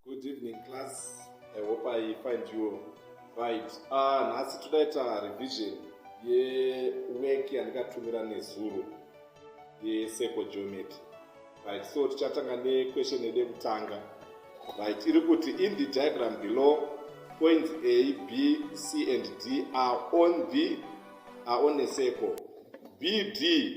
Good evening class. I hope I find you right. Ah, nhasi todaita revision yework yandikatumira nezuro yesecol geometry. Right, so tichatanga nequestion yedu yekutanga. Right, iri kuti in the diagram below points A, B, C and D are on the are on a circle. BD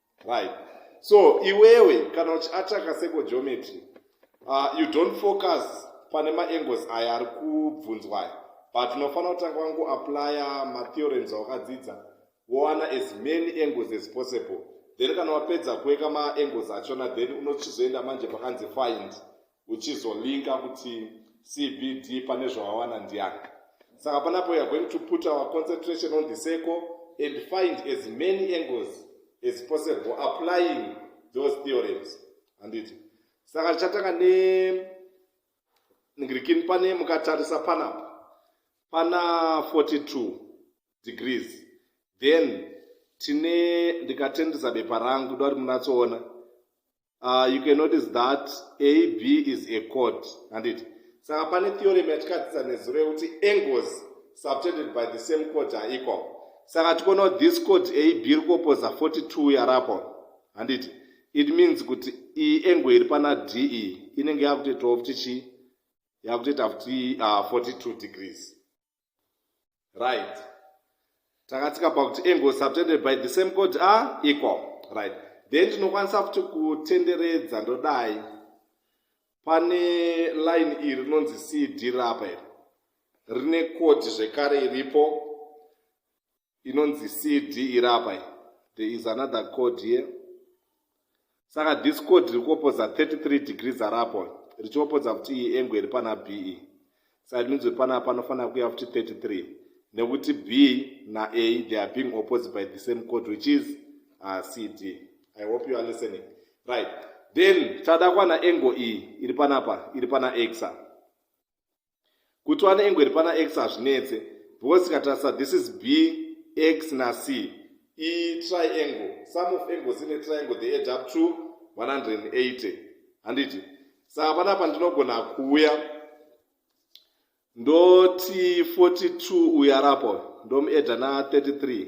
right so iwewe kana uchiataka seko geometry uh, you don't focus pane maangles aya ari kubvunzwa aya but unofanira kutanga wangoaplya matheorems awakadzidza wowana as many angles as possible then kana wapedza kuweka maangles achona then unochizoenda manje pakanzi find uchizolinka kuti cbd pane zvawawana ndiani saka panapo youare going to put our concentration on the circle and find as many angles as possible applying those theorems handiti saka tichatanga nengirikini pane mukatarisa panapa pana 42 degrees then tine ndikatendesa bepa rangu ndoari munatsoona uh, you can notice that ab is a code handiti saka pane theorem yatikadzidza nezuro yekuti angles subtended by the same code are equal saka tikoona kuti this code ab iri kuopoza 42 yarapo handiti it means kuti iyi angle iri pana d iyi e, inenge yakutoitawo kuti chii yakutoita kuti uh, 42 degrees right takatsika pakuti angle subtended by the same code a equal right then tinokwanisa futi kutenderedza ndodai pane line iri rinonzi cd rapa iri rine code zvekare iripo inonzi cd iri apa iyi there is another code here saka this code riri kuopodza 33 degrees ari apo richiopodza kuti iyi engo iri pana b iyi saka ndinzwe pana panofanira kuya futi 33 nekuti b naa they are being opposed by the same code which is uh, cd i hope you are listening right then chada kwana engo iyi iri panapa iri pana exa kuti wane ingweri pana x hazvinetse because tikatarisa this is b x na c i triangle some of angles in a triangle they add up to 180 handiti saka panapa ndinogona kuuya ndoti 42 uyu arapa uyu ndomuedha na 33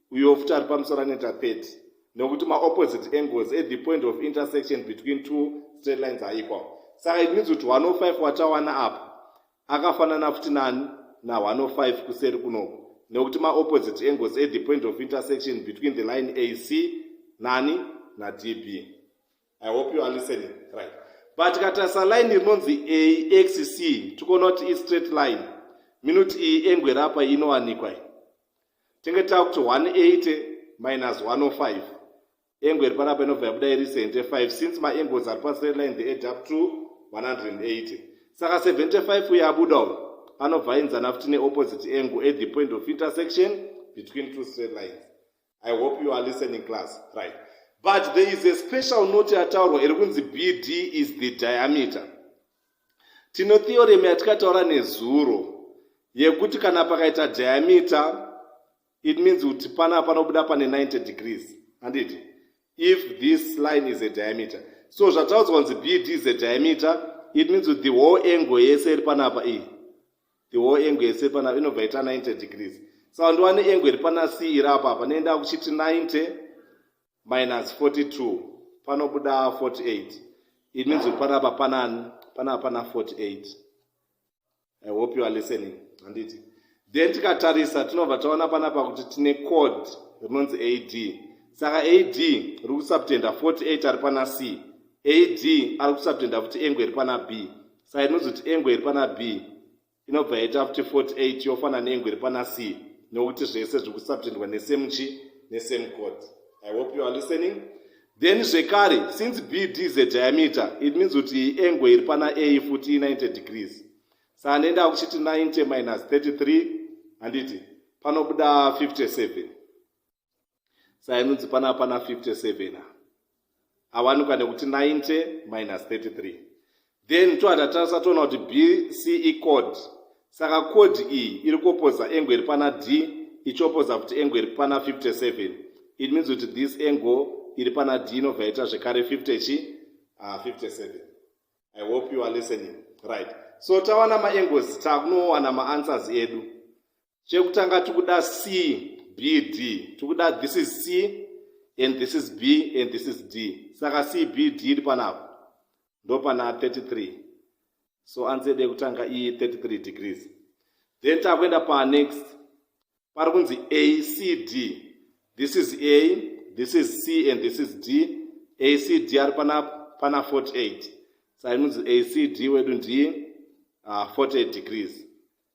uyo futi ari pamusoro anoita pet nokuti maopposite angles at the point of intersection between two straight lines aequal saka it means kuti 105 watawana apa akafanana futi nani na105 kuseri kunoku nekuti maopposite angles at the point of intersection between the line ac nani nadb i hope you are listening right but katarisa line rinonzi axc tikuona kuti istraight line minuti iyi engwe rapa inowanikwa tinge tava kuti 180 minus 105 engo iri panapa inobva yabuda iri 75 since maangles ari pastraight line the add up to 180 saka 75 uye abuda uyo anobva ainzana futi neopposite angle at the point of intersection between two straight lines i hope you are listening class right but there is a special note yataurwa iri kunzi bd is the diameter Tino theorem yatikataura nezuro yekuti kana pakaita diameter it means kuti pana panobuda pane 90 degrees handiti if this line is a diameter so zvataudzwa kunzi bd is a diameter it means kuti the whole angle yese iri panapa iyi the whole angle yese iri panapa inobva ita 90 degrees saka ndiwane angle iri pana c iri apapa neindaa kuchiti 90 minus 42 panobuda 48 it means kuti panapa panani panapa pana 48 i hope you are listening handiti then tikatarisa tinobva taona panapa kuti tine code rinonzi ad saka ad riri kusubtenda 48 ari pana c ad ari kusubtenda futi engo iri pana b saka inonzi kuti engo iri pana b inobva yaita kuti 48 yofana nengwe iri pana c nokuti zvese zviri kusaptendwa nesame chi nesame code i hope you are listening then zvekare since b d z diameter it means kuti iyi engwe iri pana a futi 90 degrees saa nenda kuchiti 90 minus 33 handiti panobuda 57 sainunzi pana apana 57 awanikwa nekuti 90 minus 33 then tohatatarisa toona kuti bce code saka code iyi iri kuopoza engo iri pana d ichiopoza kuti engo iri pana 57 it means kuti this engo iri pana d inobva yaita zvekare 50 chi uh, ah, 57 i hope you are listening right so tawana maengos takunowana maanswers edu chekutanga tikuda c b d tikuda this is c and this is b and this is d saka c b d iri panapa ndo pana 33 so anzi yedu yekutanga iyi 33 degrees then takuenda panext pari kunzi a c d this is a this is c and this is d a c d ari pana pana 48 sainonzi a c d wedu ndi uh, ah, 48 degrees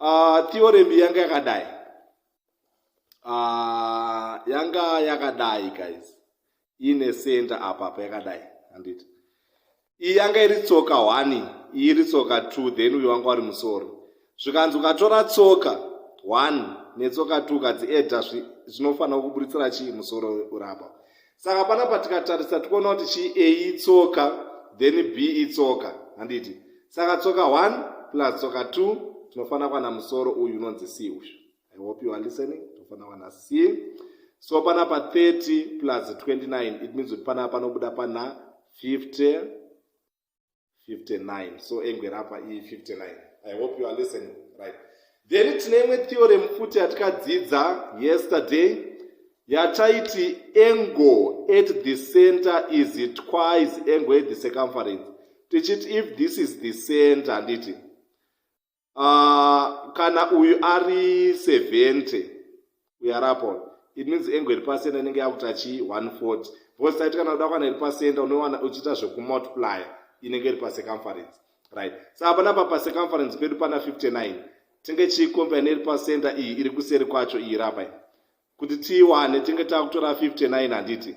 uh, theorem yanga yakadai uh, yanga yakadai guys ine center apa apa yakadai handiti iyi yanga iri tsoka one iyi iri tsoka two then uyo wanga wari musoro zvikanzi ukatora tsoka one netsoka two kadzi eda zvinofanira kuburitsira chii musoro urapa saka panapa tikatarisa tikuona kuti chi a itsoka then b itsoka handiti saka tsoka 1 plus tsoka 2 tinofanira kuwana musoro uyu unonzi c uyu i hope you are listening tinofanira kuwana c so panapa 30 plus 29 it means kuti panapa panobuda pana 50 59 so engwe rapa iyi 59 i hope you are listening right then tine imwe theorem futi yatikadzidza yesterday yataiti angle at the center is twice angle at the circumference tichiti if this is the center handiti uh, kana uyu ari 70 uyu ari apo it means engo iri pasenda inenge yakuti achi 140 because taiti kana uda kwana iri pasenda unowana uchiita zvekumultiplier inenge iri pacircumference right sa so, panapa pacircumference pedu pana 59 tinge chiikomba ine iri pasenda iyi iri kuseri kwacho iyi rapa kuti tiiwane tinge takutora 59 handiti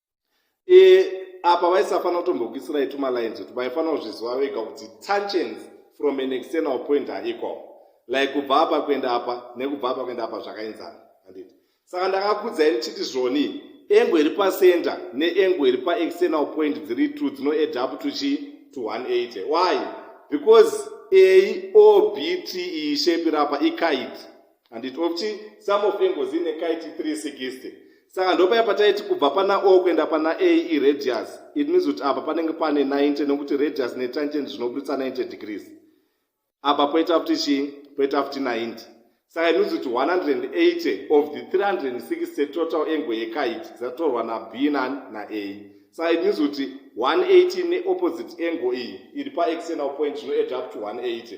e, apa vaisafanira kutombokuisirai tumalines kuti vaifanira kuzviziva vega kuti tensions from an external point are equal like kubva apa kuenda apa nekubva apa kuenda apa zvakaenzana anditi saka ndakakudzai ndichiti zvoni engo iri pacenter neengo iri paexternal point dziri two dzinoed up to chii to 180 why because a o b t e shape rapa ikaiti handiti ofti some of engozi ine kaiti 360 saka ndopaya pataiti kubva pana o kuenda pana a iradius it means kuti apa panenge pane 90 nokuti radius netangent zvinobuditsa 90 degrees apa poita futi chii poita futi 90 saka it means kuti 180 of the 360 total engo yekaiti dzatorwa nab nani naa saka it means kuti 180 neopposite engo iyi iri paexternal point zvinoeda up to 180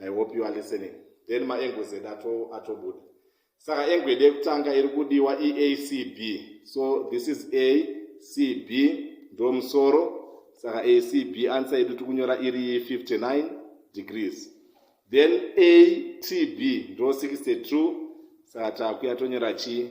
i hope you are listening then maengwe zed atobuda saka engwe yedu yekutanga iri kudiwa iacb so this is a cb ndo musoro saka acb ansa yedu tiri kunyora iri 59 degrees then atb ndo 62 saka takuya tonyora chii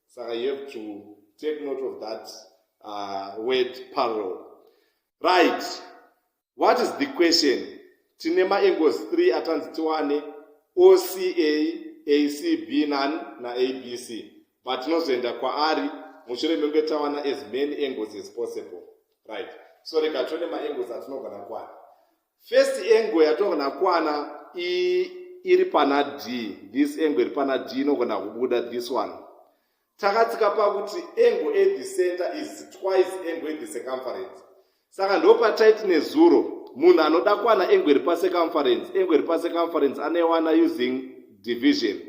saka you have to take note of that uh, word parallel right what is the question tine maangles 3 atanzi tiwane oca acb nan naabc but tinozoenda kwaari mushure menge tawana as many angles as possible right so rega tione maangles atinogona kwana First angle yatogona kwana iri pana d this angle iri pana d inogona kubuda this one takatsika pakuti angle at the center is twice angle at the circumference saka ndo pataiti nezuro munhu anoda kwana angle iri pacircumference angle iri pacircumference anoiwana using division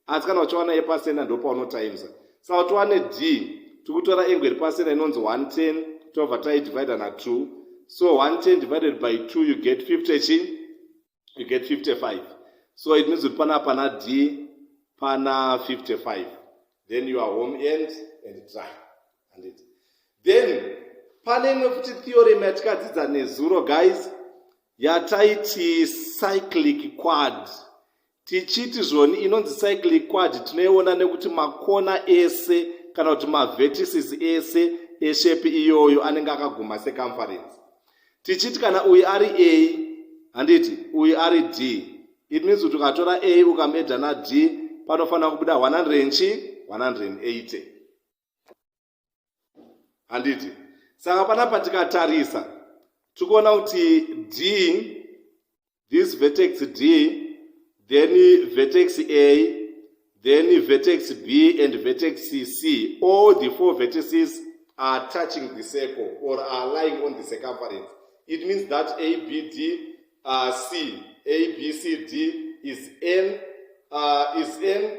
asi kana uchiwana yepasenda ndopaunotimesa saka kuti wane d tikutora engo iri pasenda inonzi 110 tobva taidivida na2 so 110 divided by 2 you get 50 chi you get 55 so it means kuti pana pana d pana 55 then you are home end and dry and it then pane imwe futi theorem yatikadzidza nezuro guys yataiti cyclic quad Tichiti zvoni inonzi cyclic quad tinoiona nekuti makona ese kana kuti mavertices ese eshepi iyoyo anenge akaguma secumference. Tichiti kana uyu ari A handiti uyu ari D. It means kuti ukatora A ukamedha naD panofanira kubuda 100 nchi 180. handiti saka panapa tikatarisa tiri kuona kuti d this vertex d then vertex a then vertex b and vertex c all the four vertices are touching the circle or are lying on the circumference it means that a b d uh, c a b c d is n uh, is n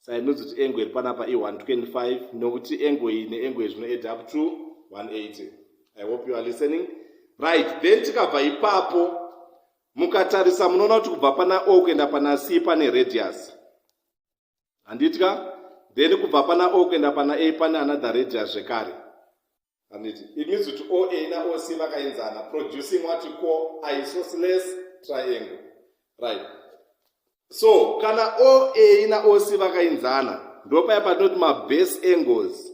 sainonzi kuti engo iri panapa i125 nokuti engo iyi neengo iyi zvinoed up to 180 i hope you are listening right then tikabva ipapo mukatarisa munoona kuti kubva pana o kuenda pana c pane radius handitya then kubva pana o kuenda pana a pane another radius zvekare handiti it means kuti oa naoc vakaenzana producing wati ko isosles triangle right so kana oa naoc vakaenzana ndopaya patinoti mabase angles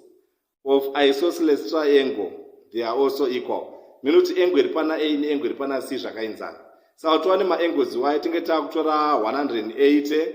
of isosles triangle they are also equal mine kuti angle iri pana a neangle iri pana c zvakaenzana saka tova nemaangles iwayo tinge tava kutora 180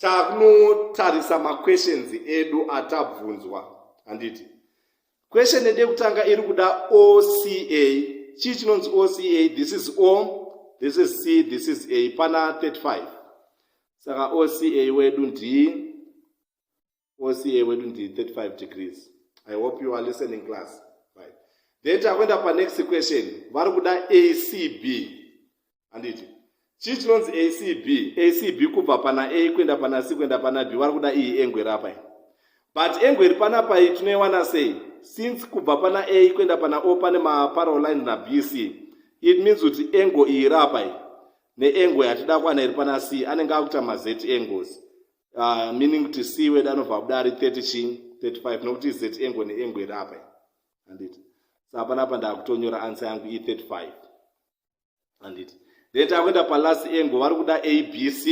tanotarisa maquestions edu atabvunzwa handiti question yede kutanga iri kuda oca chii chinonzi oca this is o this is c this is a pana 35 saka oca wedu ndii oca wedu ndi 35 degrees i hope you are listening class right then takuenda panext question vari kuda acb handiti chii chinonzi acb acb kubva pana a kuenda pana c kuenda pana b vari kuda iyi engwe rapa but engwe iri panapa iyi tinoiwana sei since kubva pana a kuenda pana o pane maparolines na b c it means kuti engo iyi rapa iyi neengwe hatida kwana iri pana c anenge akuita mazeti engozi uh, meaning kuti c wedu anobva abuda ari 30 chi 35 nokuti z engo neengo iri apa handiti sa hapana apa ndakutonyora ansa yangu i 35 handiti then takuenda palast engo vari kuda abc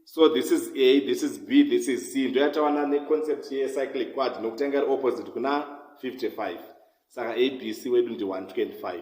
so this is a this is b this is c ndoyatawana neconcept yecyclic quad nokutanga iri opposite kuna 55 saka abc wedu ndi 125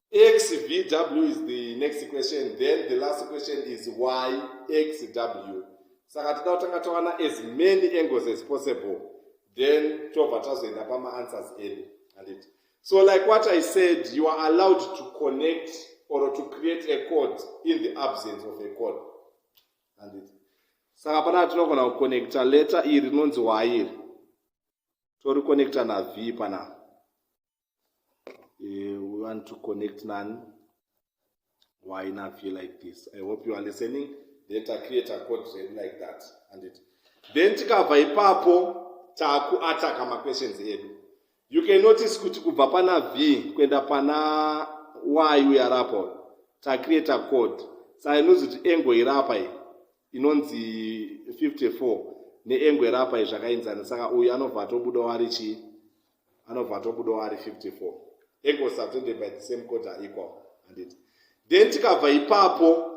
xvw is the next question then the last question is why xw saka toda kutanga tawana as many angles as possible then tobva tazoenda pamaanswers edu handiti so like what i said you are allowed to connect or to create a code in the absence of a code handiti saka panaa tinogona kuconnecta letter iri rinonzi wairi toriconnecta nav panapa uh, we want to connect nani why navie like this i hope you are listening then tacreate a code zvedu like that and it then tikabva ipapo takuataka maquestions edu you can notice kuti kubva pana v kuenda pana y uyarapo tacreate a code sainonzi kuti engo irapa iyi inonzi 54 neengo irapa iyi zvakainzana saka uyu anobva atobuda wari chii anobva atobudawo ari 54 ego subtended by the same quarter equal handiti then tikabva ipapo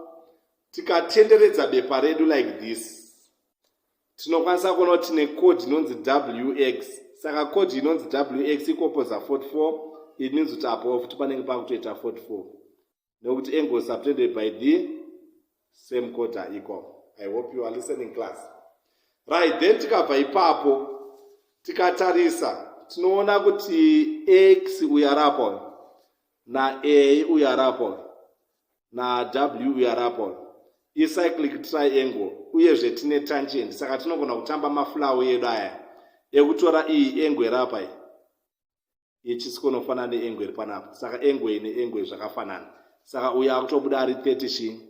tikatenderedza bepa redu like this tinokwanisa kuona kuti tine code inonzi wx saka code inonzi wx ikopoza 44 it means kuti apo futi panenge pakutoita 44 nekuti angle subtended by the same quarter equal i hope you are listening class right then tikabva ipapo tikatarisa tinoona kuti x uyo ari apo na a uyo ari apo na w uyo ari apo icyclic triangle uyezve tine tangent saka tinogona kutamba mafulawo edu aya ekutora iyi engo iri apa iyi yechisiko inofanana neengwe iri panapa saka engwe ine engwe zvakafanana saka uyo akutobuda ari 30 chii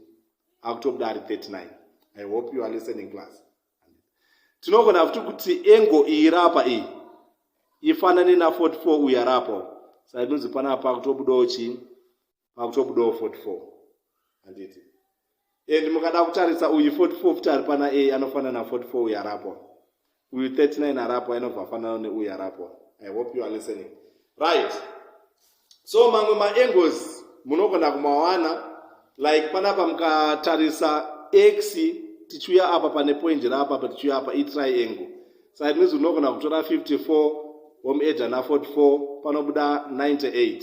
akutobuda ari 39 i hope you are listening class tinogona futi kuti engo iyi rapa iyi ifanane na 44 uyo arapa saka inonzi panapa akutobudawo chii pakutobudawo 44 handiti and mukada kutarisa uyu 44 futi ari pana a anofanana na 44 uyu arapwa uyu 39 arapwa inobva afanana neuyu arapwa i hope you are listening right so mamwe maangles munogona kumawana like panapa mukatarisa x tichiuya apa pane point raapa pa tichiuya apa itriangle side means unogona kutora 54 home edge ana 44 panobuda 98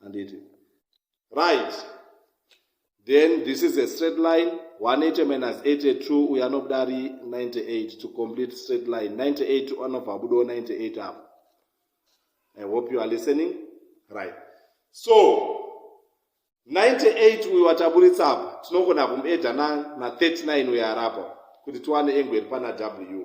handiti right then this is a straight line 180 minus 82 uyo anobuda ari 98 to complete straight line 98 anobva abudawo 98 apo i hope you are listening right so 98 uyo wataburitsa apa tinogona kumuedha na 39 uyo arapa kuti tiwane engo iri pana w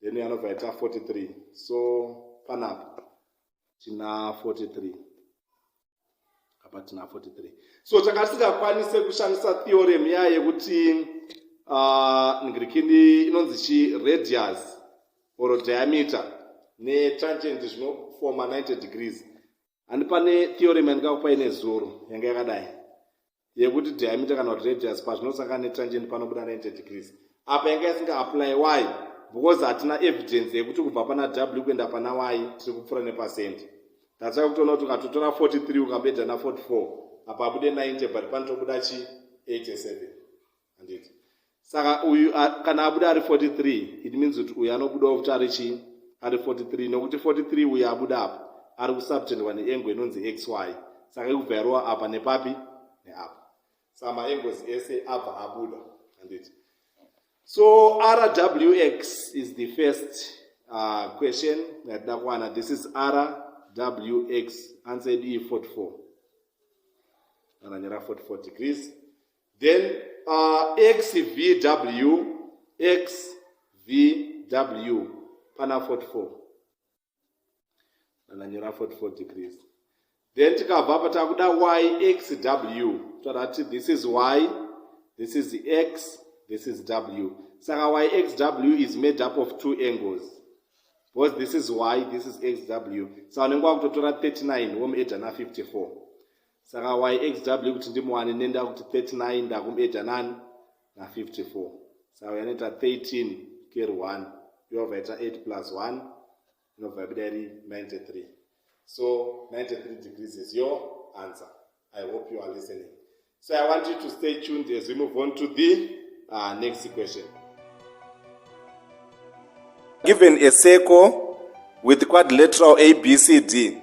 then anobva aita 43 so panapa tina 43 apa tina 43 so takasingakwanise kushandisa theorem iya yekuti ah, ngirikindi inonzi chi radius or diameter netangent zvinofoma 90 degrees handi pane theorem yandikakupai nezuro yanga yakadai yekuti diameter kana kuti radius pazvinosangana netangent panobuda 90 degrees apa yanga yasinga apply y because hatina evidence yekuti kubva pana w kuenda pana y tiri kupfuura nepacent that's why kutoona kuti ukatotora 43 ukabeda na 44 apa abude 90 but panotobuda chi 87 handiti saka uyu kana abuda ari 43 it means kuti uyu anobudawo kuti ari chii ari 43 nokuti 43 uyu abuda apa ari kusubtendwa neengo inonzi xy saka ikubva yarova apa nepapi neapa saka maengos ese abva abuda handiti so rwx is the first uh, question yatida kuwana this is rwx answer d 44 ananyora 44 degrees then uh, xvw xvw pana 44 ndanyora 44 degrees then tikabva apa takuda yxw todati this is y this is x this is w saka yxw is made up of two angles because this is y this is xw sa so, unenge wakutotora 39 womueda na 54 saka yxw kuti ndimuwane nenda kuti 39 ndakumeda nani na54 saka yanoita 13 ker 1 yobva yaita 8 plus 1 inobva yabuda iri 93 so 93 degrees is your answer i hope you are listening so i want you to stay tuned as we move on to the uh, next question given a circle with quadrilateral abcd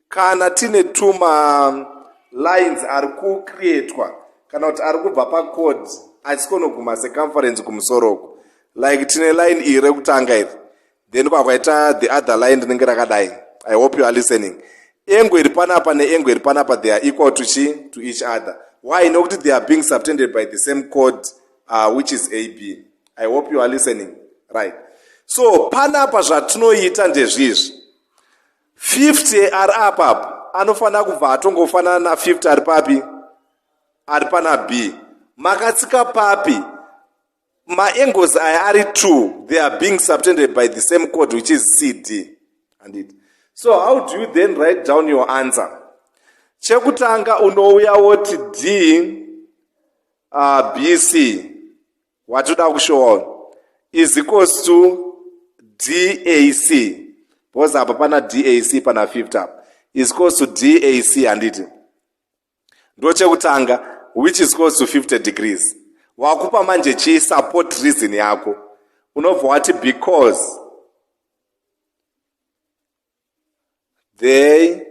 kana tine tuma lines ari kucreatwa kana kuti ari kubva pacode achikonoguma seconference kumusoro uku like tine line iri rekutanga iri then kwakwaita the other line rinenge rakadai i hope you are listening engo iri panapa neengo iri panapa they are equal to chi to each other why nokuti they are being subtended by the same code uh, which is ab i hope you are listening right so panapa zvatinoita ndezvizvi 50 ari apa apa anofanira kubva atongofanana na 50 ari papi ari pana b makatsika papi maangles aya ari two they are being subtended by the same code which is cd andit so how do you then write down your answer chekutanga unouya woti d uh, bc watoda kushowa uyu is equals to dac because apa pana dac pana 50 apa is equals to dac handiti ndochekutanga which is equals to 50 degrees wakupa manje chii support reason yako unobva wati because they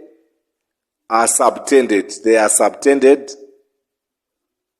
are subtended they are subtended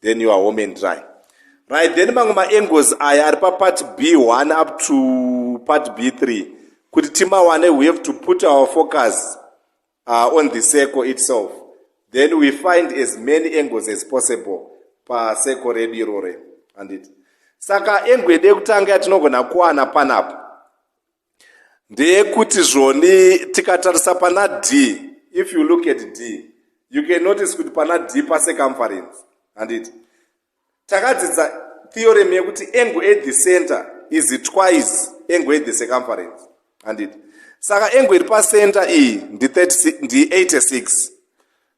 then you are home and dry right then mamwe maangles aya ari papart b1 up to part b3 kuti timawane we have to put our focus uh, on the circle itself then we find as many angles as possible pacircle redu irore handiti saka angle yedu yekutanga yatinogona kuwana panapa ndeyekuti zvoni tikatarisa pana Dee if you look at Dee you can notice kuti pana Dee pacircumference handiti takadzidza theorem yekuti angle at the center is twice angle at the circumference handiti saka angle iri pacenter iyi ndi 86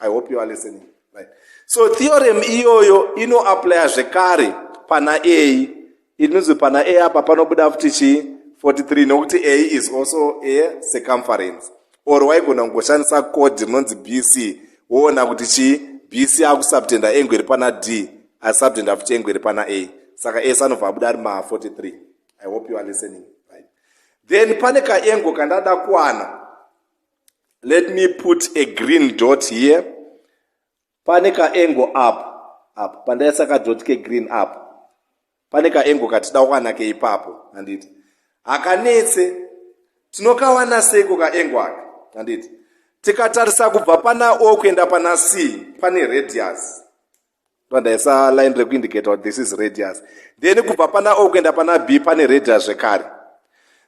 i hope you are listening right so theorem iyoyo inoaplya zvekare pana a inonzi pana a apa panobuda futi chii 43 nokuti a is also a circumference or waigona kungoshandisa code rinonzi bc woona kuti chii bc akusubtenda engu iri pana d asubtenda futi engu iri pana a saka ese anobva abuda ari ma 43 i hope you are listening right then pane kaengo kandada kuwana let me put a green dot here pane kaengo up up pandaisa kadot kegreen up pane kaengo katida kuwana keipapo handiti hakanetse tinokawana seiko kaengo aka handiti tikatarisa kubva pana o kuenda pana c pane radius ndoandaisa line rekuindicate kuti this is radius then kubva pana o kuenda pana b pane radius zvekare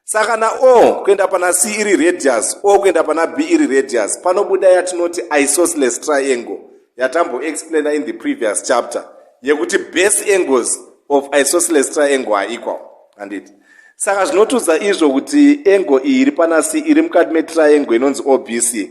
saka na o kuenda pana c iri radius o kuenda pana b iri radius panobuda yatinoti isosceles triangle yatamboexplaina in the previous chapter yekuti base angles of isosceles triangle are equal handiti saka zvinotiudza izvo kuti angle iyi iri pana c iri mukati metriangle inonzi obc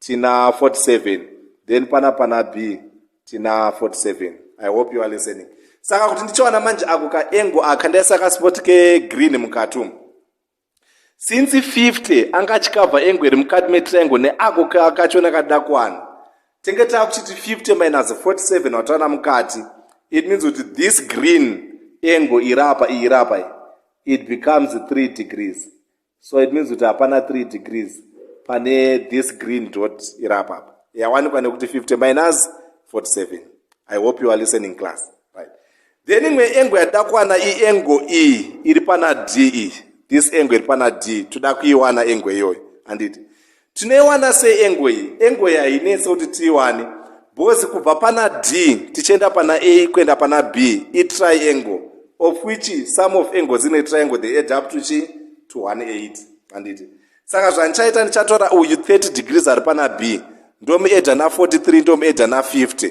Tina 47 then pana pana B tina 47. I hope you are listening. Saka kuti ndichiwana manje ako ka engo aka ndaisa ka spot ke green mukati umu. Since 50 anga achikavha engo iri mukati me triangle ne ako kakachona kadakwana. Tenge takuchiti 50 minus 47 watawana mukati. It means kuti this green engo irapa irapa it becomes 3 degrees. so it means kuti hapana three degrees pane this green dot iri apapa yawanikwa nekuti 50 minus 47 i hope you are listening class right then imwe engo yatida kuwana iengo e iri pana d e this engo iri pana d toda kuiwana engo iyoyo handiti Tinoiwana sei engo iyi? Engo iyi hainetse kuti tiiwane because kubva pana D tichienda pana A kuenda pana B itriangle of which some of angles in a triangle they add up to chi to 180 handiti? Saka zvandichaita ndichatora uyu 30 degrees ari pana B ndomuedha na 43 ndomuedha na 50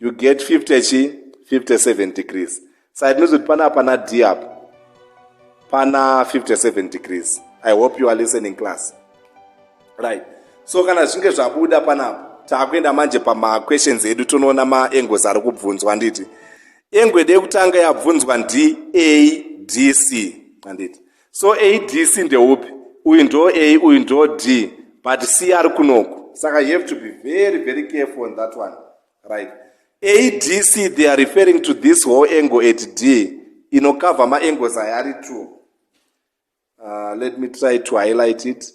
you get 50 chi 57 degrees saka tinozoti pana pana d apo pana 57 degrees i hope you are listening class right so kana zvinge zvabuda panapo taakuenda manje pamaquestions edu tonoona maengles ari kubvunzwa handiti engwede yekutanga yabvunzwa ndadc handiti so adc ndeupi uyu ndo a uyu ndo d but c ari kunoku saka you have to be very very careful on that one right adc they are referring to this whole angle at d inokavha maangles aya ari two uh, let me try to highlight it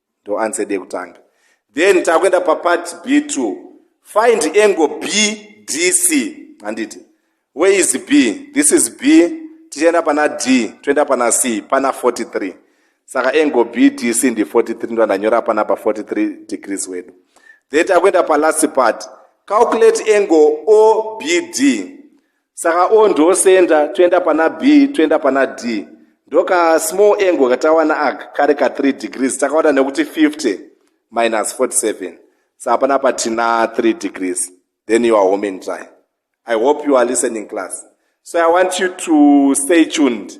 ndo answer yedu yekutanga then takuenda papart b2 find angle bdc handiti where is b this is b tichaenda pana d toenda pana c pana 43 saka angle bdc ndi 43 ndo ndanyora pana pa 43 degrees wedu then takuenda palast part calculate angle obd saka o ndosenda toenda pana b toenda pana d ndoka small angle katawana aka kari ka 3 degrees takaona nekuti 50 minus 47 sa hapana patina 3 degrees then you are home and dry i hope you are listening class so i want you to stay tuned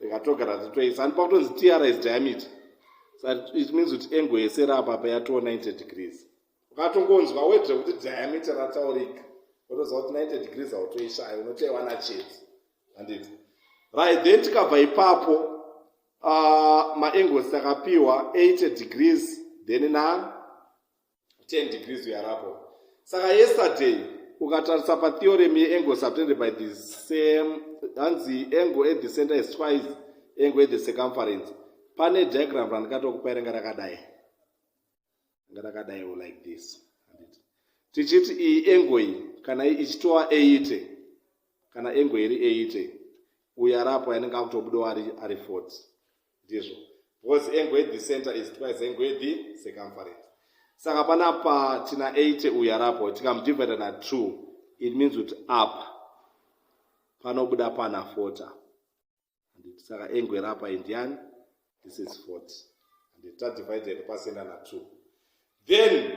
rikatogara titoisa and pakutonzi tr is diameter it means kuti engo yese rapa pa yatoo 90 degrees ukatongonzwa wedre kuti diameter rataurika wotoziva kuti 90 degrees hautoishaya unotoiwana chete handiti right then tikabva ipapo uh, maangles takapiwa 80 degrees then na 10 degrees uyarapo saka yesterday ukatarisa patheorem yeangle subtended by the same hanzi angle at the center is twice angle at the circumference pane diagram randikatokupai ranga rakadai ranga rakadai o like this tichiti iyi angle iyi kana ichitova 80 kana angle iri 80 uyarapo yanenge akutobudawo ari 40 ndizvo because engwedhi center is twice engwedhi circumference saka panapa tina 80 uyu arapo tikamudivida na 2 it means kuti apa panobuda pana 40 handiti saka engwe rapa indiani this is 40 handiti tadivide pasenda na 2 then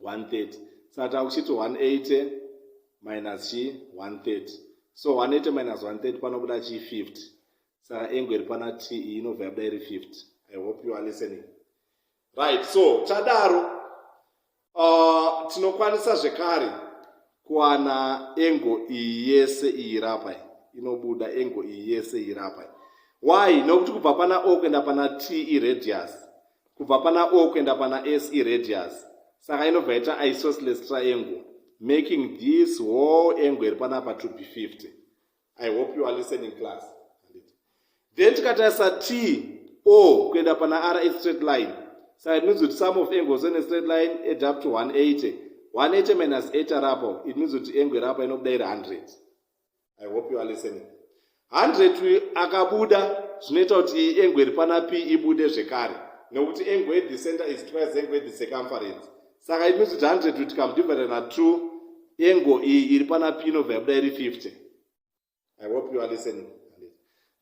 130 saka takuchiti 180 minus chi 130 so 180 minus 130 panobuda chi 50 saka engo iri pana t iyi inobva yabuda iri 50 i hope you are listening right so tadaro uh, tinokwanisa zvekare kuwana engo iyi yese iyi rapa inobuda engo iyi yese iyi rapa why nokuti kubva pana o kuenda pana t iradius kubva pana o kuenda pana s iradius saka inobva ita isosceles triangle making this whole angle iri panapa to be 50 i hope you are listening class then tikatarisa t o kuenda pana r a straight line saka it means kuti some of angles on a straight line add up to 180 180 minus 8 arapo it means kuti angle iri apa inobuda iri 100 i hope you are listening 100 akabuda zvinoita kuti engwe iri pana p ibude zvekare nekuti engwe the center is twice engwe the circumference saka it means kuti 100 tikamudivide na 2 engo iyi iri pana p inobva yabuda iri 50 i hope you are listening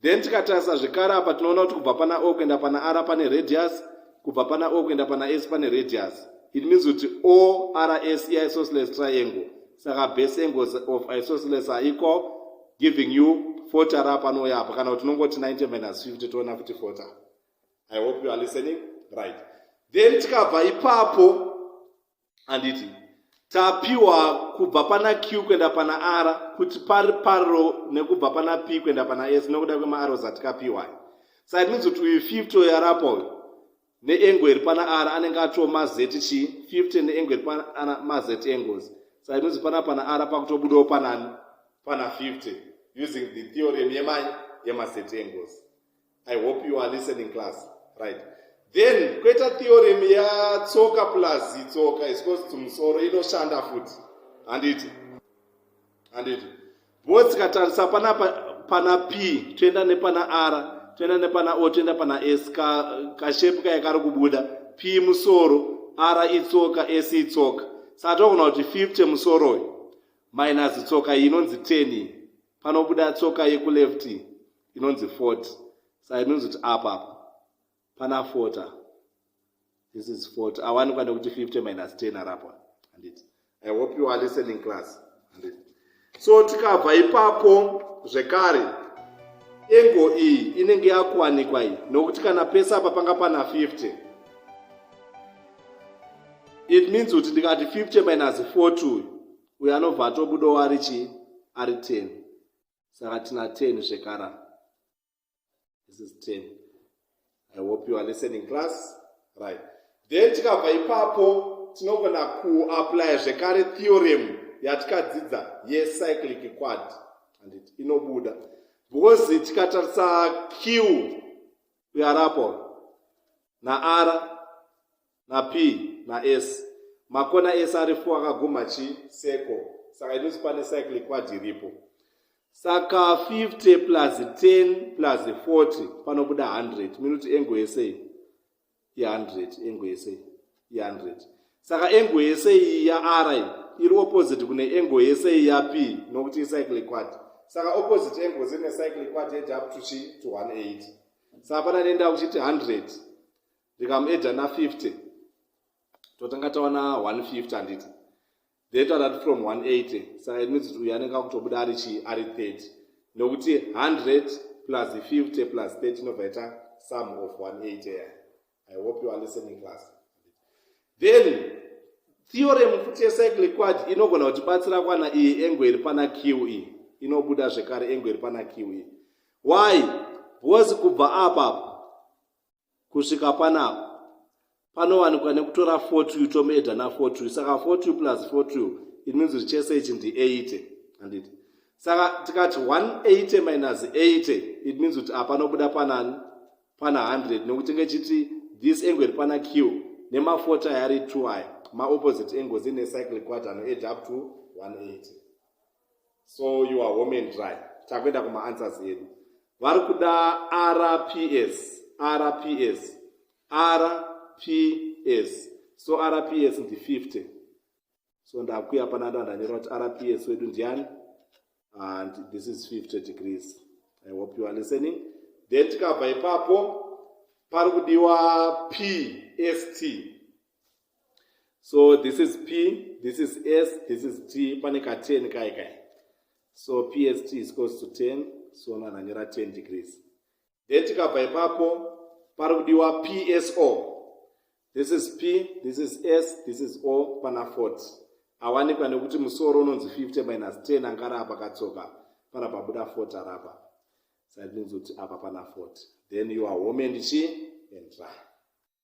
then tikatarisa zvekare apa tinoona kuti kubva pana o kuenda pana r pane radius kubva pana o kuenda pana s pane radius it means kuti o r s iisosceles triangle saka base angles of isosceles are equal giving you fota ra panouya apa kana kuti unongoti 90 minus 50 toona kuti fota i hope you are listening right then tikabva ipapo anditi tapiwa kubva pana q kuenda pana r kuti pari paro nekubva pana p kuenda pana s nokuda kwemaaros atikapiwa saka it means kuti uyu 50 oyo arapa uyu neengo iri pana r anenge atoo mazet chii 50 neengo iri pana mazet engozi saka it means pana pana r pakutobudawo panani pana 50 using the theorem yemai yemazet engozi i hope you are listening class right then kweta theorem yatsoka plus itsoka iscos to musoro inoshanda futi handiti handiti bo tikatarisa pana pana p toenda nepana r toenda nepana o toenda pana s kashepu kaye kari kubuda p musoro r itsoka s itsoka saka togona kuti 50 musoro uyu minus tsoka iyi inonzi 10 iyi panobuda tsoka yekuleft inonzi fort sa inonzi kuti apa apa pana fota this is fort awanikwa nekuti 50 minus 10 arapa handiti i hope you are listening class handiti so tikabva ipapo zvekare engo iyi inenge yakuwanikwa iyi nokuti kana pese apa panga pana 50 it means kuti ndikati 50 minus 4 to uyo anobva atobudawo ari chii ari ten saka tina ten zvekara this is ten i hope you are listening class right then tikabva ipapo tinogona kuaplya zvekare theorem yatikadzidza yecyclic quad andit inobuda because tikatarisa q uyarapo naara na p na s makona ese ari fo akaguma chi seko saka inonzi pane cycle quad iripo saka 50 plus 10 plus 40 panobuda 100 minoti engo yese iyi i100 engo yese iyi i100 saka engo yese iyi ya r iri opposite kune engo yese iyi ya p nokuti icycle quad saka opposite engo zine cycle quad yeti up to chi to 180 saka pana nenda kuchiti 100 ndikamuedha na 50 totanga taona 150 handiti data rati from 180 saka it means uyu anenge akutobuda ari chii ari 30 nokuti 100 plus 50 plus 30 inobva ita sum of 180 ya i hope you are listening class then theorem futi yecycle quad inogona kutibatsira kwana iyi engo iri pana q iyi e. inobuda zvekare engo iri pana q iyi e. why because kubva apa kusvika panapa panowanikwa nekutora fotu tomeedha nafotu saka fotu plus fotu it means kuti chese ichi ndi 80 handiti saka tikati 180 minus 80 it means kuti apa nobuda panani pana 100 nekuti ngechiti this angle iri pana q nemafoto aya ari 2 aya maopposite angles ine cycle quad anoeda up to 180 so you are home and dry takuenda kumaanswers edu vari kuda rps rps rps so rps ndi 50 so ndakuya pana ndo andanyora kuti rps wedu ndiani and this is 50 degrees i hope you are listening then tikabva ipapo pari kudiwa pst so this is p this is s this is t pane ka 10 kai kai so pst is close to 10 so vanhu vanyora 10 degrees then tikabva ipapo pari kudiwa pso this is p this is s this is o pana 40 awanikwa nekuti musoro unonzi 50 minus 10 angara apa katsoka pana pabuda 40 arapa saka tinonzi kuti apa pana 40 then you are home and chi and dry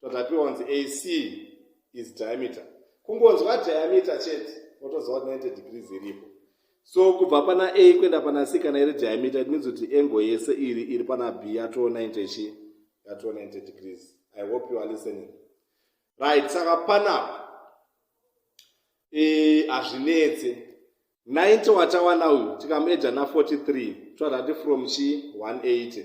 tatapiwa kunzi ac is diameter kungonzwa diameter chete wotoziva kuti 90 degrees iripo so kubva pana a kuenda pana c kana iri diameter it means kuti engo yese iri iri pana b yatoo 90 chi yatoo 90 degrees i hope you are listening right saka panapa e, hazvinetse e, 90 watawana uyu tikamuedza na 43 totati from chi 180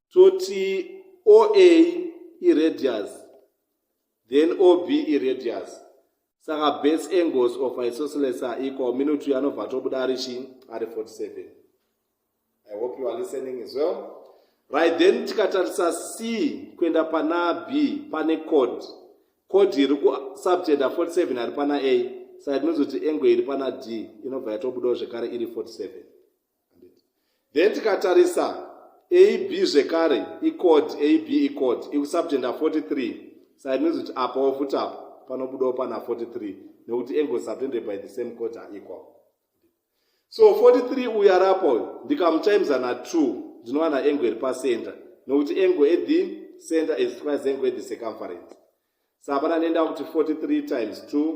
toti oa iradius then ob iradius saka base angles of isosceles are equal minutu yanobva tobuda ari chi ari 47 i hope you are listening as well right then tikatarisa c kuenda pana b pane code code iri kusubtenda 47 ari pana a saka tinozoti angle iri pana d inobva yatobudawo zvekare iri 47 then tikatarisa ab zvekare icode ab icode ikusubject na 43 sa it means kuti apawo futi apa panobudawo pana 43 nekuti angle subtended by the same code are equal so 43 uyu ari apa uyu ndikamutimesa na 2 ndinowana angle iri pacenter nekuti angle at the center is twice angle at the circumference sa hapana nenda kuti 43 times 2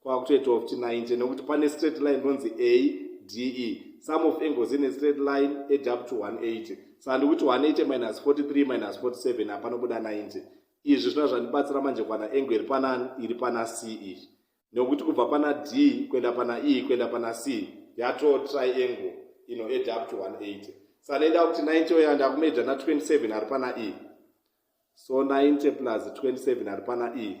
kwakutoitawo kuti 90 nokuti pane straight line inonzi a d e some of angles ine straight line add up to 180 saka ndikuti 180 minus 43 minus 47 hapanobuda 90 izvi zvina zvandibatsira manje kwana angle iri pana iri pana c iyi nokuti kubva pana d kuenda pana e kuenda pana c yato triangle ino add up to 180 saka ndaenda kuti 90 oya ndakumeja na 27 ari pana e so 90 plus 27 ari pana e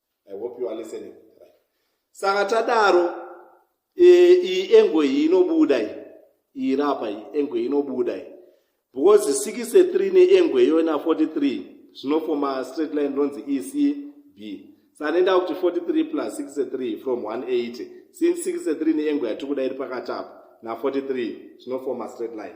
i hope you are listening right. saka tadaro e, iyi e, engo iyi inobuda iyi iyi rapa iyi engo iyi inobuda iyi because 63 neengo iyoyo na 43 zvinofoma straight line ronzi ecb sanenda kuti 43 plus 63 from 180 since 63 neengo yatiri kuda iri pakati apo na 43 zvinofoma straight line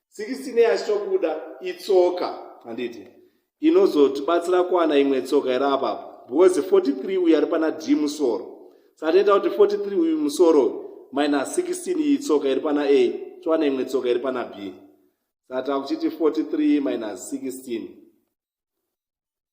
sikisinei achitobuda itsoka handiti inozotibatsira kuwana imwe tsoka iri apapo because 43 uyu ari pana d musoro satinoita kuti 43 uyu musoro minus 16 iyi tsoka iri pana a towana imwe tsoka iri pana b sata kuchiti 43 minus 16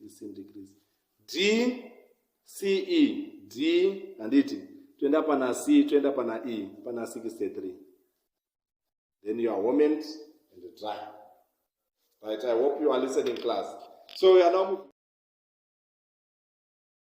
16 degrees d ce d handiti toenda pana c toenda pana e pana 63 then you are homent and dry right i hope you are listening class so we are now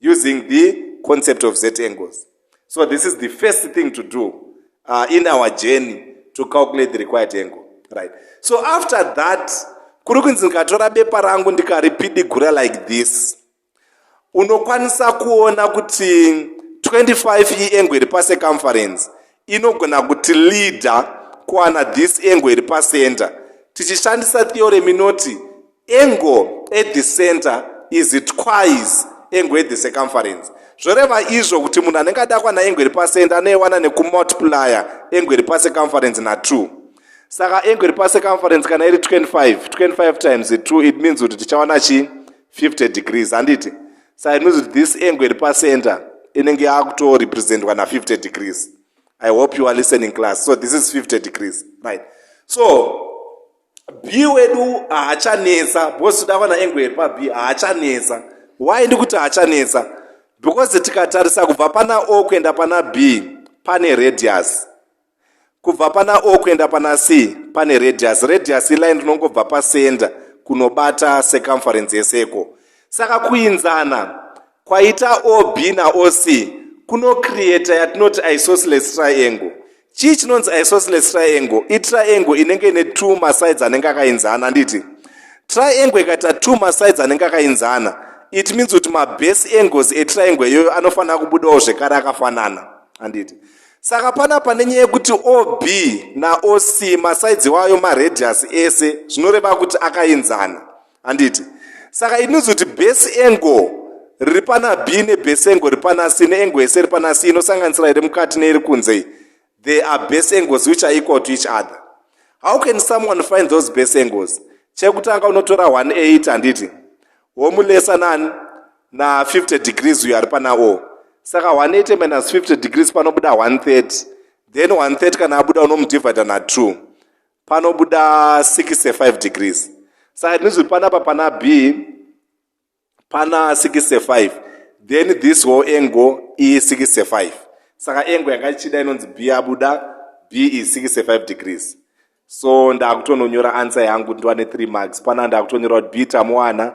using the concept of z angles so this is the first thing to do uh, in our journey to calculate the required angle right so after that kuri kunzi ndikatora bepa rangu ndikaripidigura like this unokwanisa kuona kuti 25 iengo iri pacircumference inogona kuti leader kuwana this engo iri pacenter tichishandisa theorem inoti Engo at the center is twice engo at the circumference zvoreva izvo kuti munhu anenge adakwa naengo iri pacenter anoiwana nekumultiplier engo iri pacircumference na2 saka engo iri pacircumference kana iri 25 25 times 2 it means kuti tichawana chii 50 degrees handiti sa it means kuti this engo iri pacenter inenge yakutorepresentwa na50 degrees i hope you are listening class so this is 50 degrees right so Bee wedu haachanetsa because takawana angle yepa Bee haachanetsa. Why ndikuti haachanetsa? Because tikatarisa kubva pana O kuenda pana B pane radius. Kubva pana O kuenda pana C pane radius. Radius iline rinongobva pa center kunobata circumference yeseko. Saka kuinzana Kwaita OB na OC kuno creator yatinoti isosceles triangle. Chii chinonzi isosceles triangle? I triangle inenge ine two masides anenge akainzana anditi? Triangle ikaita two masides anenge akainzana it means kuti mabase angles etriangle iyoyo anofanira kubudawo zvekare akafanana anditi? Saka pana pane nyaya yekuti OB na OC masides iwayo maradius ese zvinoreva kuti akainzana. handiti saka inozi kuti base angle riri pana b nebase angle riri pana c neengle yese iri pana c inosanganisira iri mukati neiri kunze they are base angles which are equal to each other how can someone find those base angles chekutanga unotora 18 handiti womulesa nani na 50 degrees uyo ari pana o saka 180 minus 50 degrees panobuda 130 then 130 kana abuda unomudivida na2 panobuda 65 degrees saka ndinzwi panapa pana b pana 65 then this whole angle i 65 saka angle yanga ichida inonzi b yabuda b i 65 degrees so ndakutononyora answer yangu ndiwane 3 marks pana ndakutonyora kuti b tamuwana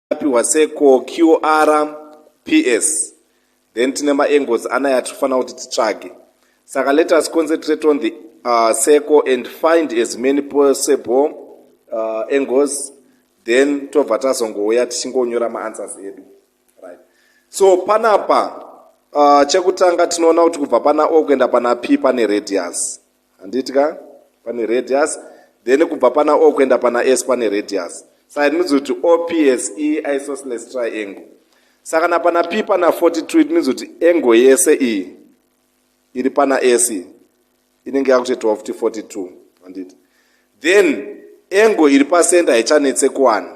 apihwa seko qr ps then tine maangles anaya atinofanira kuti titsvage saka let us concentrate on the uh, seko and find as many possible uh, angles then tobva tazongouya tichingonyora maanswers edu right so panapa uh, chekutanga tinoona kuti kubva pana o kuenda pana p pane radius handiti ka pane radius then kubva pana o kuenda pana s pane radius saka it means kuti ops e isosceles triangle saka na pana p pana 42 it means kuti angle yese iyi iri pana s inenge yakutoitawo futi 42 handiti then angle iri pacenter haichanetse kuwana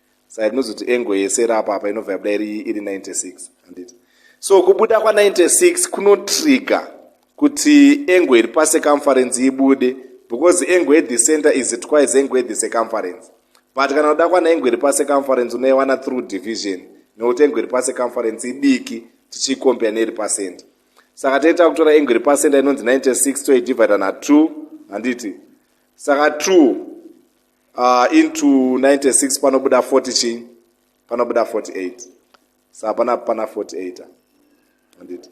saka tinozoti engo yese iri apa apa inobva yabuda iri iri 96 handiti so kubuda kwa96 kunotrigger kuti engo iri pacircumference ibude because engo yethe center is twice engo yethe circumference but kana unoda kwana engo iri pacircumference unoiwana through division nokuti engo iri pacircumference idiki tichiikompea neiri pacenter saka taita kutora engo iri pacenter inonzi 96 toidivida na2 handiti saka 2 uh, into 96 panobuda 40 chii panobuda 48 sa pana pana 48 anditi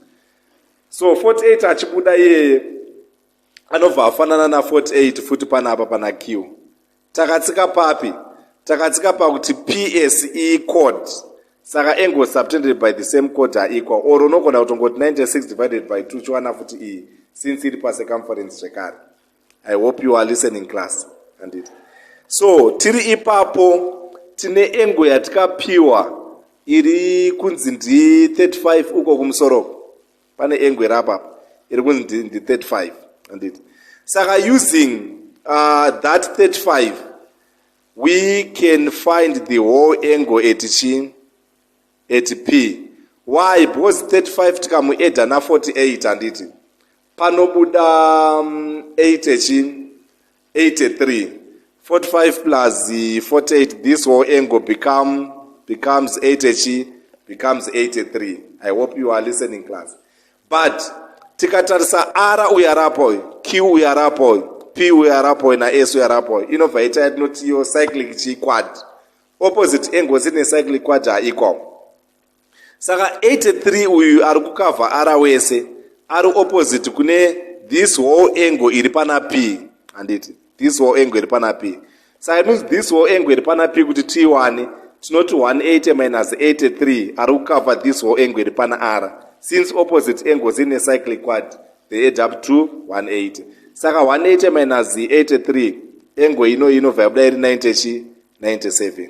so 48 achibuda iyeye anobva afanana na 48 futi pana apa pana q takatsika papi takatsika pakuti ps e code saka angle subtended by the same code aequal or unogona kutongoti 96 divided by 2 chiwana futi iyi since iri pacircumference zvekare i hope you are listening class handiti so tiri ipapo tine engo yatikapiwa iri kunzi ndi 35 uko kumusoro pane engo iri apapa iri kunzi ndi, ndi 35 handiti saka using uh, that 35 we can find the whole engo at chi at p why because 35 tikamueda na 48 handiti panobuda 8 mm, echi 83 45 plus 48 this whole angle become becomes 8 echi becomes 83 i hope you are listening class but tikatarisa r uya rapo q uya rapo p uya rapo na s uya rapo inobva ita yatinoti yo cyclic chiquad opposite angle dzine cyclic quad haiko saka 83 uyu ari kukavha ara wese ari opposite kune this whole angle iri pana p handiti this whole angle iri pana p saka means this whole angle iri pana p kuti tiwane tinoti 180 minus 83 ari kukavha this whole angle iri pana r since opposite angles ine cyclic quad they add up to 180 saka 180 minus 83 angle ino inobva yabuda iri 90 chi 97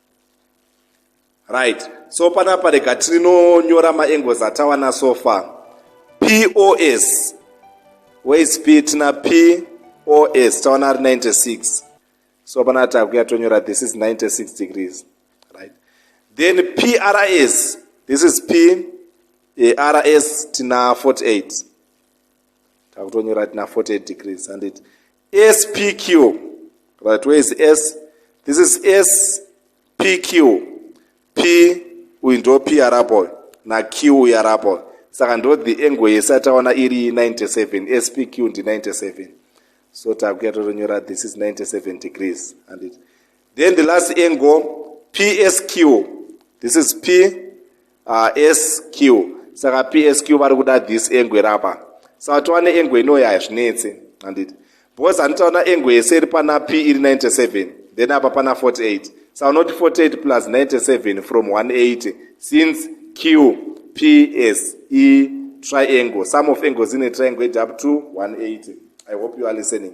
right so panapa rega tinonyora maangles atawana so far pos ways p tina pos tawana ari 96 so panapa takuya tonyora this is 96 degrees right then prs this is p eh, rs tina 48 takutonyora tina 48 degrees handiti spq right where is s this is spq p uyu ndo p arapo na q uyu arapo saka ndo the angle yese ataona iri 97 spq ndi 97 so takuya totonyora this is 97 degrees and it, then the last angle psq this is p uh, sq saka psq vari kuda this angle rapa saka towana angle inoya hazvinetse handiti because handitaona angle yese iri pana p iri 97 then apa pana 48 saka unoti 48 plus 97 from 180 since q p s e triangle some of angles in a triangle ed up to 180 i hope you are listening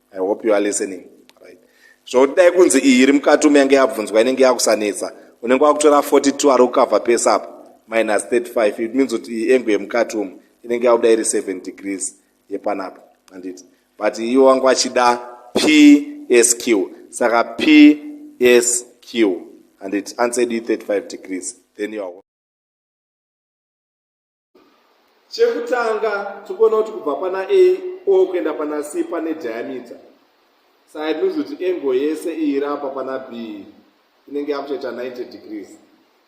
i hope you are listening right zvokuti dai kunzi iyi iri mukati umu yange yabvunzwa inenge yakusanetsa unenge wakutora 42 ari kukavha pese apa minus 35 it means kuti iyi engo yemukati umu inenge yakuda iri 7 degrees yepanapa anditi but iwo wange wachida psq saka psq anditi answer du 35 degrees then you are chekutanga tikuona kuti kubva pana a o kuenda pana c pane diameter saka inozi kuti engo yese iiri apa pana b inenge yakutoita 90 degrees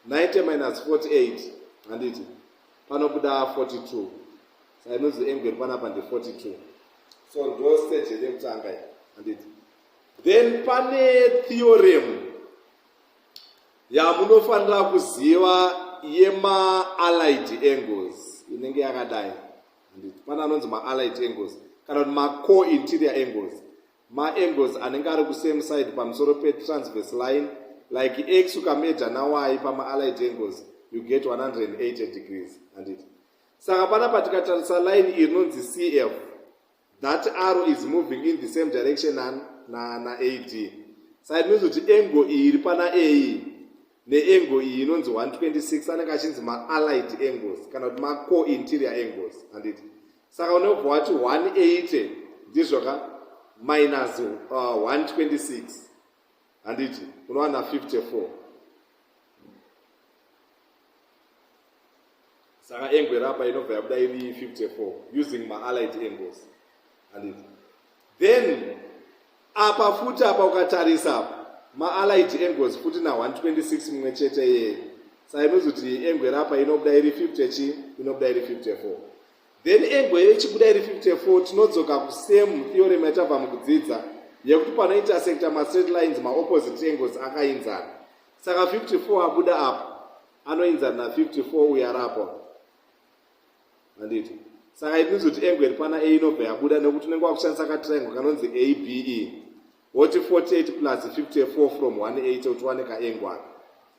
90 minus 48 handiti panobuda 42 saka inozi engo iri panapa ndi 42 so ndo stage iri yekutanga i handiti then pane theorem yamunofanira kuziva yemaallied angles inenge yakadai pane anonzi maallied angles kana kuti maco interior angles maangles anenge ari kusame side pamusoro petransverse line like x ukameja nawayi pamaallied angles you get 180 degrees handiti saka panapa tikatarisa line iri rinonzi cf that arrow is moving in the same direction na, na, na ad side means kuti engo iyi iri pana a neengo iyi inonzi 126 anenge achinzi maallied angles kana kuti maco interior angles handiti saka unobva wati 180 ndizvoka minus uh, 126 handiti unowana 54 saka engwe rapa inobva yabuda iri 54 using maallied angles handiti then apa futi apa ukatarisa apa maallied angles futi na 126 mumwe chete yeye saka inozoti engwe rapa inobuda iri 50 chi inobuda iri 54 then engo iyo ichibuda iri 54 tinodzoka kusame theorem yatabva mukudzidza yekuti panointersecta mastraight lines maopposite angles akainzana saka 54 abuda apo anoinzana na 54 uyo ari apo anditi saka itinizoti engo iri pana a inobva yabuda nekuti unenge wakushandisa katriangle kanonzi abe woti 48 plus 54 from 18 kuti wane kaengo aka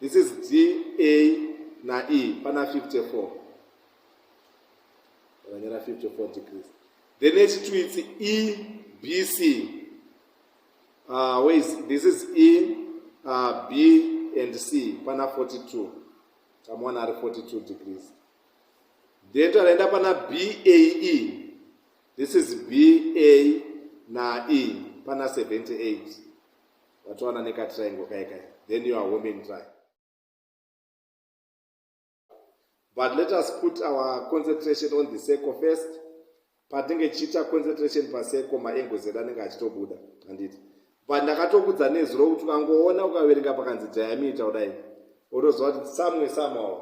this is dna na e pana 54 akanyora 54 degrees then echitwitsi e b c uh, where is this is e uh, b and c pana 42 tamuona ari 42 degrees then takaenda pana bae this is ba na e pana 78 watowana nekatriangle kai kai then you are home and dry but let us put our concentration on the circle first patinge tichiita concentration pacircle maangles edu anenge achitobuda handiti but ndakatokudza nezuro kuti ukangoona ukaverenga pakanzi diameter kudai otoziva kuti somewhere somehow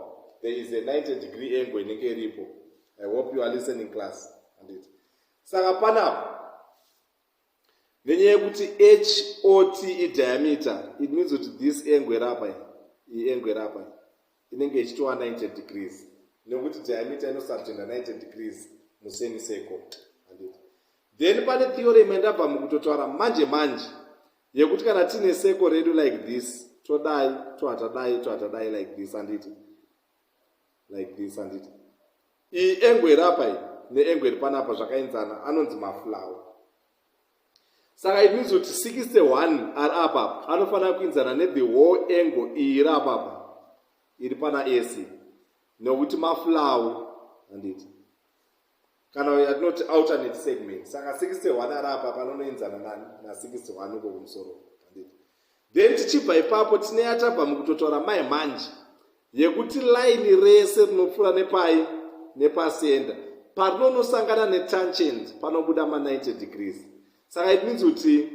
there is a 90 degree angle inenge iripo i hope you are listening class handiti saka panapo nenyaya yekuti hot idiameter it means kuti this engo iri apa iyi engo iri apa inenge ichitova 90 degrees nekuti diameter inosubtenda 90 degrees musemi seko then pane theorem yandabva mukutotaura manje manje yekuti kana tiine seko redu like this todai tohatadai tohatadai like this anditi like this handiti iyi engo iri apa iyi neengo iri panapa zvakaenzana anonzi maflowe saka it means kuti 61 ari apapa anofanira kuinzana nethe whole engo iyi iri apapa iri pana ac nekuti maflowe handiti kana yatinoti alternate segment saka 61 ari apa panonoenzana nani na61 uko kumusoro panditi then tichibva ipapo tine yatabva mukutotaura mai manje yekuti laini rese rinopfuura nepai nepasenda parinonosangana netangent panobuda ma90 degrees saka it means kuti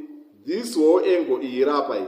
this whole angle iyi irapa iyi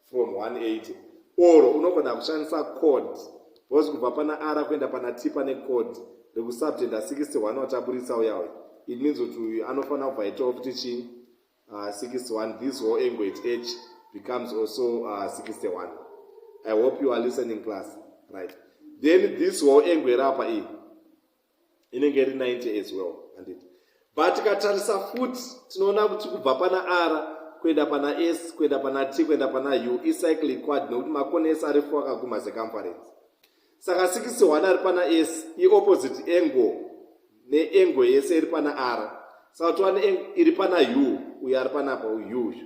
from 180 or unogona kushandisa code because kubva pana ara kuenda pana t pane code rekusubtenda 61 wataburitsa uya uya it means kuti uyu anofanira kubva itawo kuti chii uh, 61 this whole angle at h becomes also uh, 61 i hope you are listening class right then this whole angle rapa iyi inenge iri 90 as well handiti but tikatarisa futi tinoona kuti kubva pana ara kuenda pana s kuenda pana t kuenda pana u icycle quad nekuti makona ese ari fo akaguma secomference saka 61 ari pana s iopposite angle neangle yese iri pana r saka tova neangle iri pana u uyo ari panapa uyu uyu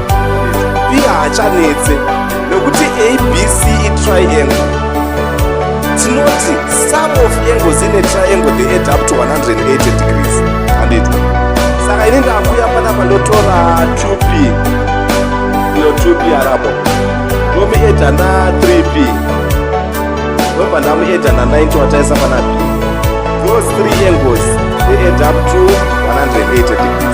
iye haachanetse nekuti abc itriangle tinoti sum of angles ine triangle they add up to 180 degrees handiti saka ini ndakuya panapa ndotora 2p ino 2p arapo ndomuedha na 3p ndobva ndamuedha na 90 wataisa pana p those three angles they add up to 180 degrees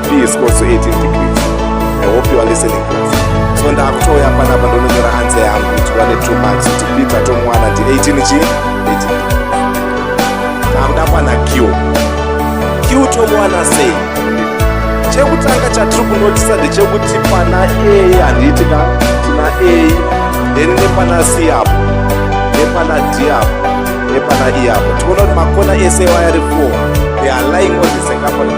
P is close to 18 degrees. I hope you are listening class. So ndakutoya panapa ndononyora anze yangu kuti vane two months kuti bibva tomwana ndi 18 chii 18 kamdakwana q q tomwana sei chekutanga chatiri kunotisa ndechekuti pana a handiti ka tina a then nepana c apo nepana d apo nepana e apo tinoona kuti makona ese wayari 4 they are lying on the second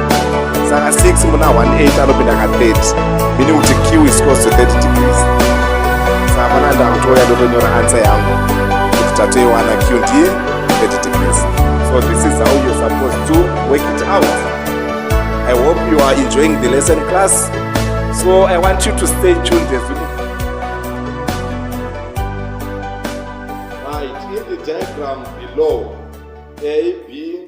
saka 6 muna 18 anopinda ka 30 meaning kuti q is close to 30 degrees saka pana ndakutouya ndotonyora answer yangu kuti tatoiwana q ndiye 30 degrees so this is how you're supposed to work it out i hope you are enjoying the lesson class so i want you to stay tuned as we right in the diagram below a b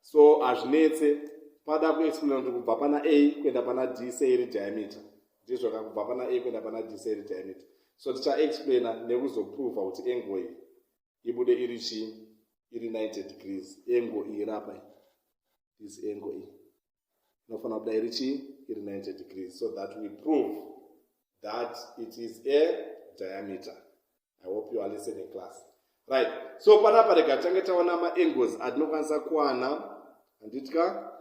so hazvinetse pada kuexplaina kuti kubva pana a kuenda pana d sei iri diameter ndizvo ka kubva pana a kuenda pana d sei iri diameter so tichaexplaina nekuzoprova kuti engo iyi ibude iri chii iri 90 degrees engo iyi rapa this engo iyi inofanira kubuda iri chii iri 90 degrees so that we prove that it is a diameter i hope you are listening class right so panapa rega tange taona maangles atinokwanisa kuwana handitya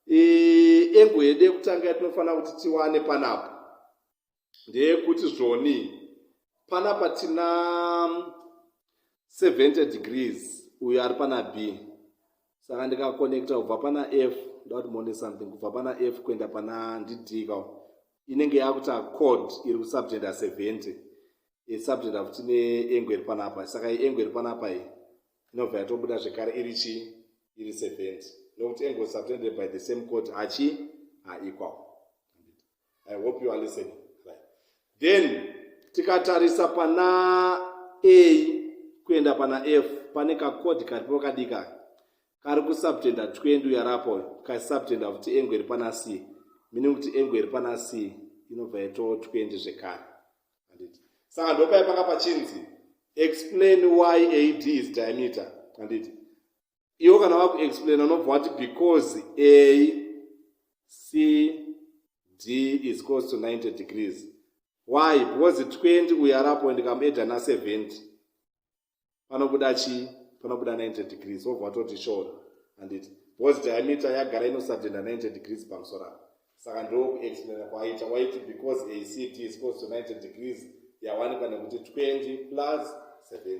engo yedu yekutanga yatinofanira kuti tiwane panapa ndeyekuti zvoni pana patina 70 degrees uyo ari pana b saka ndikakonekta kubva pana f ndakuti mone something kubva pana f kuenda pana ndidika inenge yakuta code iri kusubtenda 70 isubtenda futi neengo iri panapa saka iengo iri panapa iyi inobva yatobuda zvekare iri chii iri 70 nokuti engo subtended by the same code achi aequal i hope you are listening right. then tikatarisa pana a kuenda pana f pane kakodi karipo kadika kari kusubtenda 20 uyarapo kasubtenda kuti engo iri pana c meaning kuti engo iri pana c inobva yato 20 zvekare anditi saka ndopai panga pachinzi explain why ad is diameter anditi iwo kana vakuexplain unobva wati because a c d is close to 90 degrees why because 20 uyo arapo and kamueda na 70 panobuda chii panobuda 90 degrees wobva watoti shora handiti because diameter yagara inosadenda 90 degrees pamusoro apo saka ndokuexplaina kwaita waiti because acd is close to 90 degrees yawanikwa nekuti 20 plus 70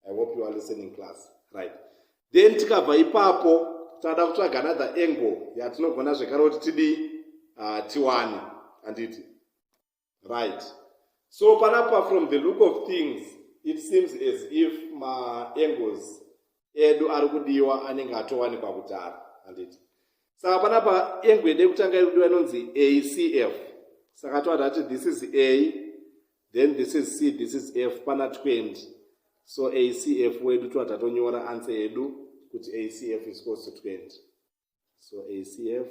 i hope you are listening class right then tikabva ipapo tada kutsvaga another angle yatinogona zvekare kuti tidii uh, tiwane handiti right so panapa from the look of things it seems as if maangles edu ari kudiwa anenge atowanikwa kudhara handiti saka panapa engo yede kutanga iri kudiwa inonzi acf saka toada kuti this is a then this is c this is f pana 20 so acf wedu tova tatonyora answer yedu kuti acf is close to 20 so acf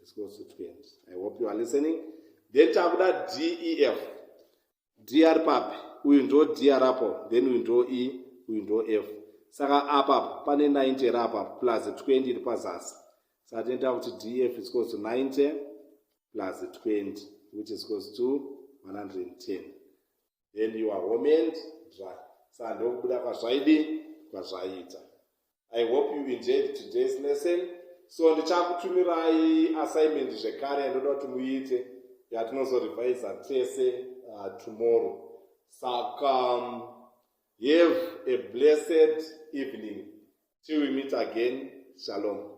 is close to 20 i hope you are listening then takuda def dr papi uyu ndo dr apo then uyu ndo e uyu ndo f saka apapo pane 90 iri apapo plus 20 iri pazasi saka tinoita kuti df is close to 90 plus 20 which is close to 110 then you are home and dry sa ndokubuda kwazvaidi kwazvaita i hope you enjoyed today's lesson so ndichakutumirai assignment zvekare yandoda kuti muite yatinozorevisa tese uh, tomorrow saka um, have a blessed evening till we meet again shalom